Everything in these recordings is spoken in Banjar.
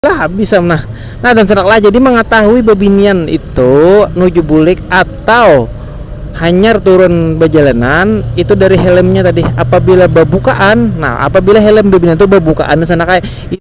Lah habis am nah. Nah dan sanak lah jadi mangatahui babinian itu nuju bulik atau hanyar turun bajalanan itu dari helmnya tadi apabila babukaan nah apabila helm babinian tu babukaan sanak ai itu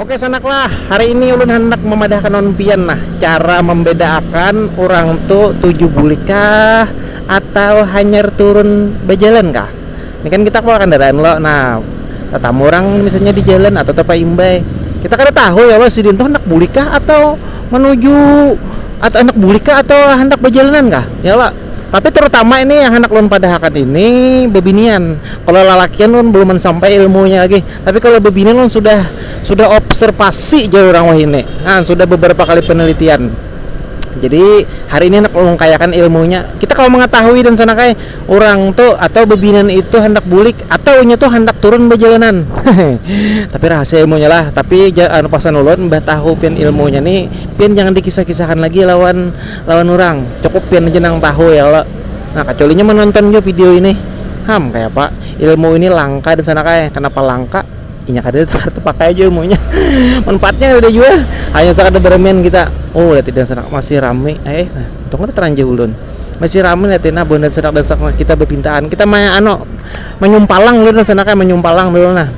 Oke sanaklah, hari ini ulun handak memadahkan lawan pian nah cara membedaakan urang tu tuju bulik kah atau hanyar turun bajalan kah. Ini kan kita kawa kandaraan lo, nah tatamu urang misalnya di jalan atau tapaimbai kita kada tahu ya lo sidin tu handak bulik kah atau menuju atau handak bulik kah atau handak bajalanan kah ya lo. Tapi terutama ini yang handak ulun padahakan ini bebinian, kalo lalakian ulun buluman sampai ilmunya lagi, tapi kalo bebinian ulun sudah sudah observasi jar urang wahini nah sudah beberapa kali penelitian jadi hari ini handak ulun kayakan ilmunya kita kawa mengetahui dan sana kaya urang tu atau bebinian itu handak bulik atau inya tu handak turun bejalanan tapi rahasia ilmunya lah tapi jar anu pasan ulun imbah tahu pian ilmunya ni pian jangan dikisah-kisahkan lagi lawan. lawan urang, cukup pian haja nang tahu ya kalo. Nah kacualinya manonton jua video ini. Ham, kayapa ilmu ini langka disana kah? Kanapa langka? Inya kadada kada tapakai jua ilmunya. Manfaatnya kadada jua, hanya sakadar baramian kita. Oh lihat ini sanak masih rami. Eh, untung kada taranjau ulun. Masih rami lihat ini buhan sanak kita bapintaan. Kita ma anu manyumpalang dulu disana kah, manyumpalang dulu nah.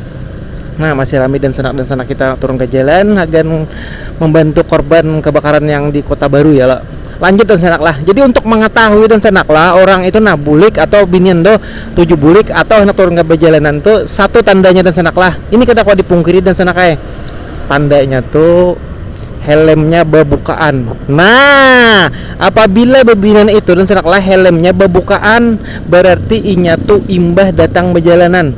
Nah, masih rami dan sanak dan sanak kita turun ke jalan hagan membantu korban kebakaran yang di Kota Baru ya lah. Lanjut dan sanak lah. Jadi untuk mengetahui dan sanak lah orang itu nah bulik atau binian tuh tuju bulik atau handak turun ke bejalanan tuh satu tandanya dan sanak lah. Ini kada kawa dipungkiri dan sanak ai. Tandanya tuh helmnya bebukaan. Nah, apabila bebinian itu dan sanak lah helmnya bebukaan berarti inya tuh imbah datang bejalanan.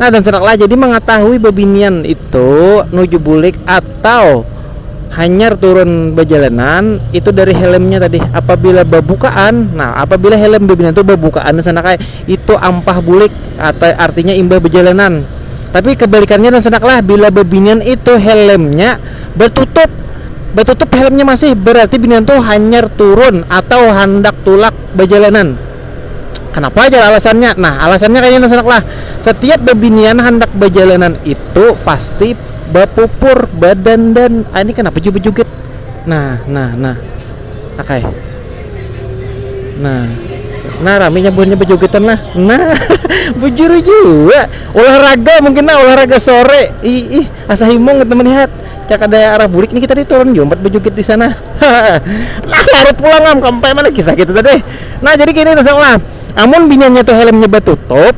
Nah dan sinak lah jadi mangatahui babinian itu nuju bulik atau hanyar turun bajalanan itu dari helmnya tadi apabila babukaan nah apabila helm babinian tu babukaan dan sinak ai itu ampah bulik atau artinya imbah bajalanan tapi kabalikannya dan sinak lah bila babinian itu helmnya batutup batutup helmnya masih berarti binian tu hanyar turun atau handak tulak bajalanan. Kenapa jar alasannya? Nah, alasannya kaya ini sanak lah, setiap bebinian handak bajalanan itu pasti bapupur, badandan, ini kenapa jua bejoget? Nah, nah, nah, akay. Nah, nah raminya buhannya bejogetan lah. Nah, bujur jua olahraga mungkin nah olahraga sore. Ih, ih, asa himung teman lihat. Cak ada arah bulik nih kita diturun jompat bejoget di sana. nah ngarit pulang am sampai mana kisah kita tadi nah jadi gini dasar lah amun binyannya tuh helmnya batutup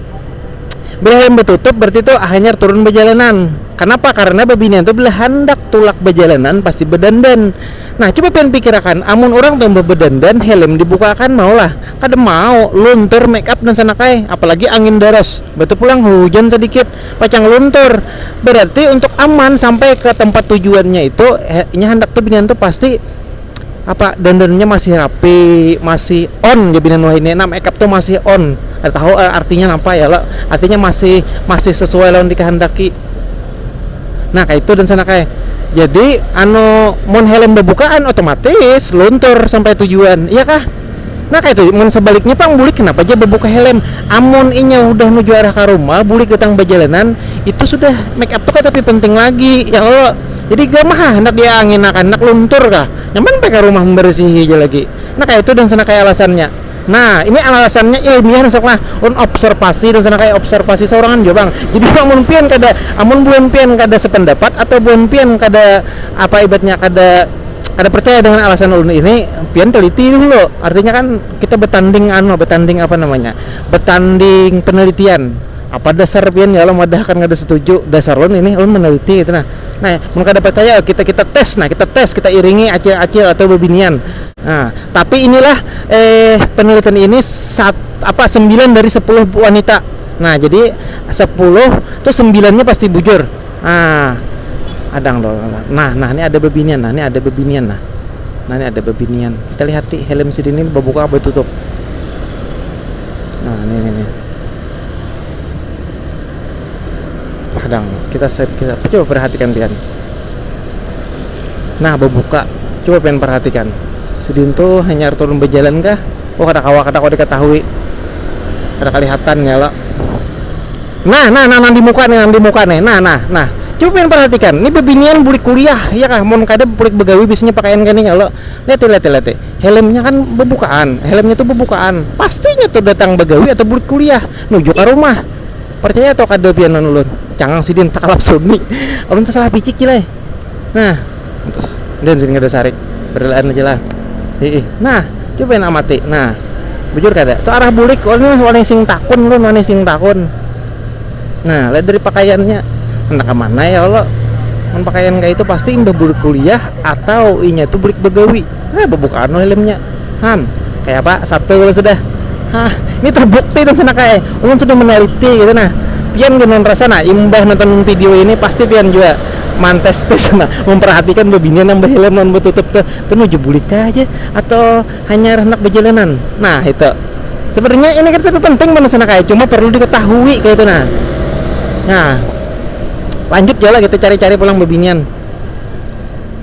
bila helm batutup berarti tuh hanyar turun bajalanan kenapa karena babinian tuh bila handak tulak bajalanan pasti bedandan nah coba pian pikirakan amun orang tuh bedandan helm dibukakan mau lah kada mau luntur make up dan sanakai apalagi angin daras batu pulang hujan sedikit Pacang luntur, berarti untuk aman sampai ke tempat tujuannya itu inya handak tu binian tu pasti apa dandannya masih rapi masih on jar binian wahini nah makeup tu masih on kada tahu artinya napa ya lo artinya masih masih sesuai lawan dikehendaki nah kaitu dansanak ai jadi anu mun helm babukaan otomatis luntur sampai tujuan iya kah. Nah kaitu mun sabaliknya pang bulik kenapa ja babuka helm amun inya hudah nuju arah ka rumah bulik datang bajalanan itu sudah make up tu kada tapi penting lagi ya kalo jadi gama ha handak di angin akan handak luntur kah nyaman bae ka rumah memberesihi ja lagi nah kaitu dan sana kaya alasannya nah ini alasannya ilmiah nah sanak nah ulun obserpasi dan sana kaya obserpasi saurangan jua pang jadi amun pian kada amun buhan pian kada sependapat atau buhan pian kada apa ibatnya kada. Kada percaya dengan alasan ulun ini, pian teliti dahulu, artinya kan kita betanding anu betanding apa namanya betanding penelitian apa dasar pian ya Allah mewadahkan kada setuju dasar ulun ini ulun meneliti itu nah, nah mun kada percaya kita kita tes nah kita tes kita iringi acil acil atau bebinian nah tapi inilah eh penelitian ini sat apa sembilan dari sepuluh wanita nah jadi sepuluh tu sembilannya pasti bujur. Nah, adang lo. Nah, nah ini ada bebinian, nah ini ada bebinian nah. Nah ini ada bebinian. Kita lihat di helm si ini berbuka apa tutup. Nah ini ini. ini. Adang, kita set kita coba perhatikan pian. Nah berbuka, coba pian perhatikan. Sidin tuh hanya turun berjalan kah? Oh kada kawa kada kau diketahui. Kada kelihatan ya lah. Nah nah nah nang di muka nih nang di muka nih nah nah nah coba pian parhatikan nih bebinian bulik kuliah ya kah mun kada bulik begawi biasanya pakaian kaya nih kalo liati liati liati helmnya kan bebukaan helmnya tuh bebukaan pasti nya tuh datang begawi atau bulik kuliah nuju ka rumah parcaya atau kada pian lawan ulun cangang sidin takalap suni ulun tasalah picik cil ai. nah dan sini ada sarik berlain aja lah ih nah coba yang amati nah bujur kada tuh arah bulik oleh oleh sing takun lu oleh sing takun nah lihat dari pakaiannya entah kemana ya Allah pakaian kayak itu pasti imbah bulik kuliah atau inya tuh bulik begawi Nah, bebukaan no helmnya. Han, kayak apa? Satu kalau sudah. Hah, ini terbukti dan sana kayak ulun sudah meneliti gitu nah. Pian gimana rasa nah imbah nonton video ini pasti pian juga mantes tes nah memperhatikan bebinian yang behelm non betutup tuh tuh nuju bulik aja atau hanya anak bejalanan nah itu sebenarnya ini kan tapi penting mana sana kayak cuma perlu diketahui kayak itu nah nah lanjut ya lah kita cari-cari pulang bebinian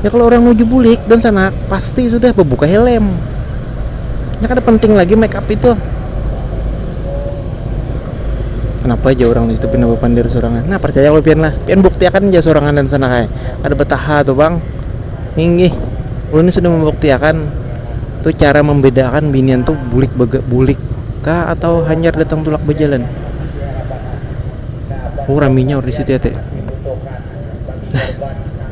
ya kalau orang nuju bulik dan sana pasti sudah berbuka helm ya kan penting lagi make up itu kenapa aja orang itu pindah berpandir sorangan nah percaya kalau pian lah pian buktiakan aja sorangan dan sana kayak ada betaha tuh bang ini ini sudah membuktiakan tuh cara membedakan binian tuh bulik bega, bulik kah atau hanyar datang tulak berjalan oh raminya orang di situ ya teh nah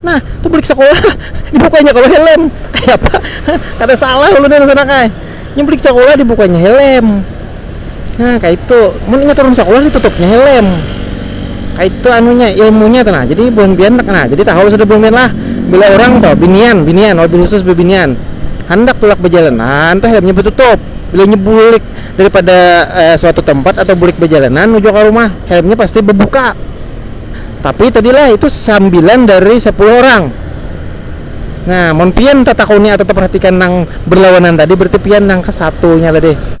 Nah, tu bulik sakolah dibukanya kalu helm. Kaya apa? Kada salah ulun nang sanak ai. Nya bulik sakolah dibukanya helm. Nah, kaitu. Mun inya turun sakolah ditutupnya helm. Kaitu anunya, ilmunya tu nah. Jadi buhan pian nah, jadi tahu sudah buhan pian lah bila urang tu binian, binian wabil khusus bebinian handak tulak bejalan nah tu helmnya betutup bila inya bulik daripada eh, suatu tempat atau bulik bejalanan menuju ke rumah helmnya pasti bebuka Tapi tadilah itu sambilan dari sapuluh orang. Nah, mun pian tatakuni atau taparhatikan nang berlawanan tadi berarti pian nang ke satu nya tadi.